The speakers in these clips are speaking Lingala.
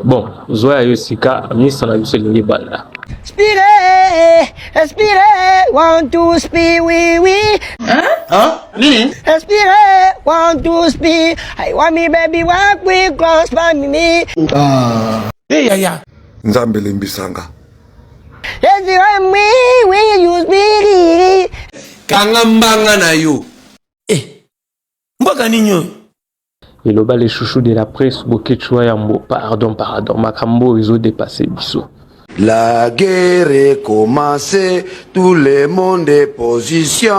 Bon, zwa ya yo sika, misa na biso elingi banda. Spire, spire, want to spire, oui, oui. Hein? Hein? Nini? Spire, want to spire. I want me baby walk with cross by me. Ah. Hey, ya, ya. Nzambe limbisanga. Yes, you are me, we use me. Kanga mbanga na yo. Eh, mbaka nini oyo? Eloba le chouchou de la presse Boketshu wa yambo pardon pardon makambo oyo ezo depasser biso. La guerre est commencée, tout le monde est position.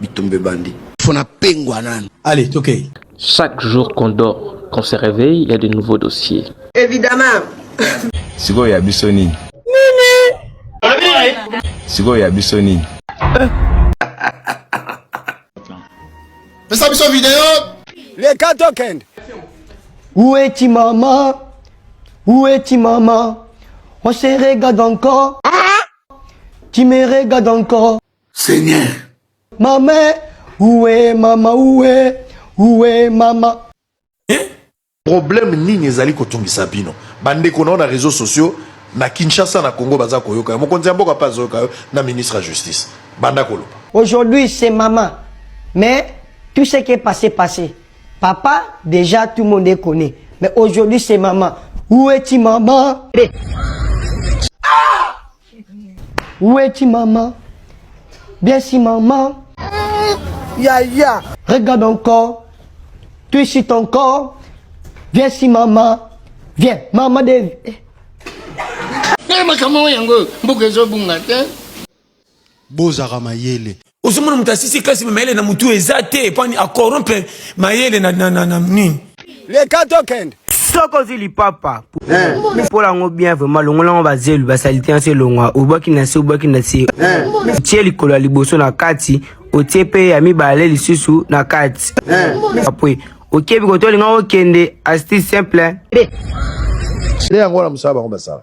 Bitumbe bandi. Fona pengwa nanu. Allez, tokei. Okay. Chaque jour qu'on dort, qu'on se réveille, il y a de nouveaux dossiers. Évidemment. Sikoyo ya biso nini? Nini? Sikoyo ya biso nini? pesa biso video leka tokende ueti mama ueti mama on se regarde encore tu me regardes encore seigneur mama uwe mama uwe uwe mama Problème nini ezali kotungisa bino bandeko nao na reseaux sociaux na Kinshasa na Congo baza koyoka yo mokonzi ya mboka mpe azoyoka yo na ministre ya justice banda koloba. Aujourd'hui c'est maman mais tout ce qui est passe passe papa dejà tout monde est connait mais aujourd'hui c'est maman où est-il maman? Où es-tu maman Bien si maman. Ya ya. Regarde encore. Tu es sur ton corps. Viens si maman. Viens maman de. Eh makambo yango mbuka ezobunga te. Bozaka mayele. ozomona moto asisi kasi mayele na motu eza te pani acorrompre mayele na, na, na, na nini leka tokende soki ozwi lipapa mpola yango bien vraimen longola yango bazelu basalite yanso elongwa obwaki na se obwaki na se tie likolo ya liboso na kati otie mpe ya mibale lisusu na kati apre okebi kotolinga okende asti simple nde yango wana mosala bango basala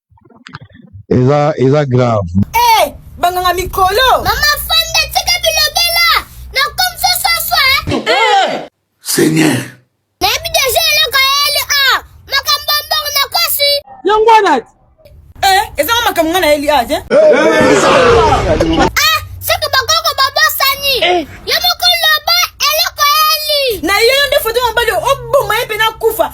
eza eza grave eh banganga mikolo mama fanda tika bilobela na comme ça ça ça eh seigneur nayebi déjà eloko yeli a ah, makambo mbongo na kosi yango wana eh eza ngo makambo ngana yeli a ah, je eh, eh, eh. ah soki bakoko babosani yo mokolo ba eloko yeli na yo nde foto mobali oboma ye mpe nakufa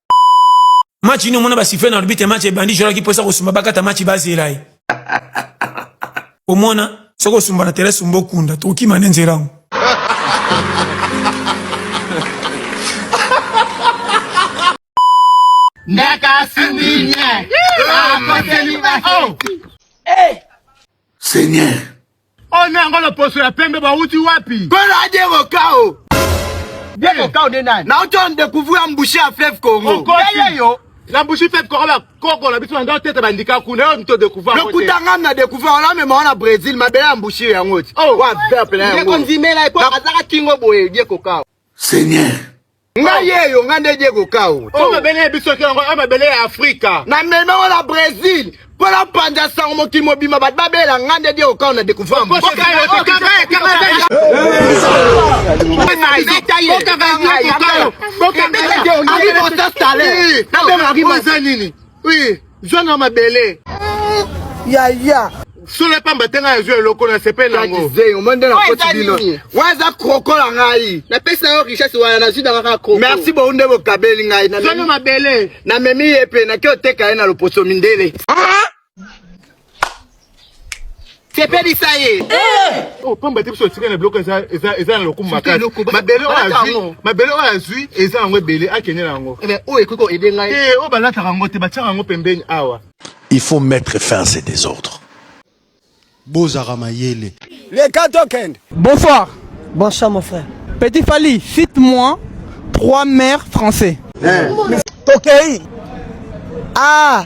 match nini omona basifle na arbitre match ebandi jora ki posa kosumba bakata match bazela ye omona soki osumba na tere sumba okunda tokima nde nzela yango Seigneur, Oyo oh, na yango loposo ya pembe bawuti wapi? Kola Diego Kao. Diego eh. Kao de nani? Na uto on découvrir embouché à fleuve Congo. Okosi yo. La bouche fait quoi la coco la biso ndo tete bandika kuna yo mto découvrir. Le kutanga na découvrir on a même on a Brésil ma belle embouche ya ngoti. Oh, wa peuple na yango. Diego Nzimela ko azaka kingo boye Diego Kao. Seigneur nga yeyo nga nde diego kao o oh, mabele ya biso yango a mabele ya afrika na meme ngo na brésil mpo na panza sango mokili mobima bato babela nga nde diego kao na découvrir mboka Oui, zwa na mabele. Ya ya. Solo pamba te ngai azwa eloko na sepe na ngo. Zeyo monde na koti bino. Waza kroko la ngai. Na pesa yo richesse wana na zida kaka kroko. Merci beaucoup nde bokabeli ngai na. Zwa na mabele. Na memi ye pe na kyo teka ye na loposo mindele. sepelisa ye eh! oh, pamba te biso etika na biloko eza na lokumu makasi mabele oyo azwi eza yango ebele akende na yango eh oyo ekoki koede ngai te eh, oyo balataka yango te batiaka yango pembeni awa il faut mettre fin à ces désordres bozaka mayele leka tokende bonsoir bonsoir mon frère petit fali cite moi trois mères français tokei ah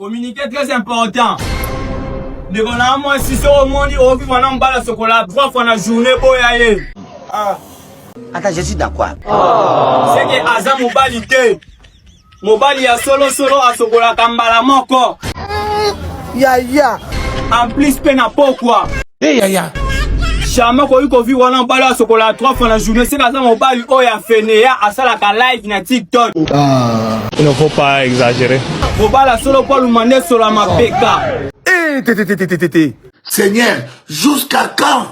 Communiquer très important. Ndeko na moi si so omoni ovi wana mbala sokola trois fois na journée boya ye. Ah. Ata je suis d'accord. Oh. C'est que aza mobali te. Mobali ya solo solo asokolaka mbala moko. Yaya. En plus pe na pokwa. Eh yaya. Shama koyi kovi wana mobali asokola 3 fois na journée seka aza mobali oyo ya fenea asalaka live na tiktok ah. il ne faut pas exagérer kobala solo mpo aluma nde sola mapeka eh, seigneur jusqu'à quand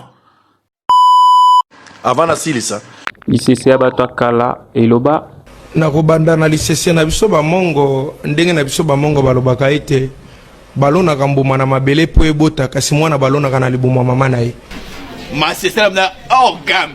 avant nasilisa lisese ya bato ya kala eloba na kobanda na lisese na biso bamongo ndenge na biso bamongo balobaka ete balonaka mbuma na mabele mpo ebota kasi mwana balonaka na libumu ya mama na ye masese na orgame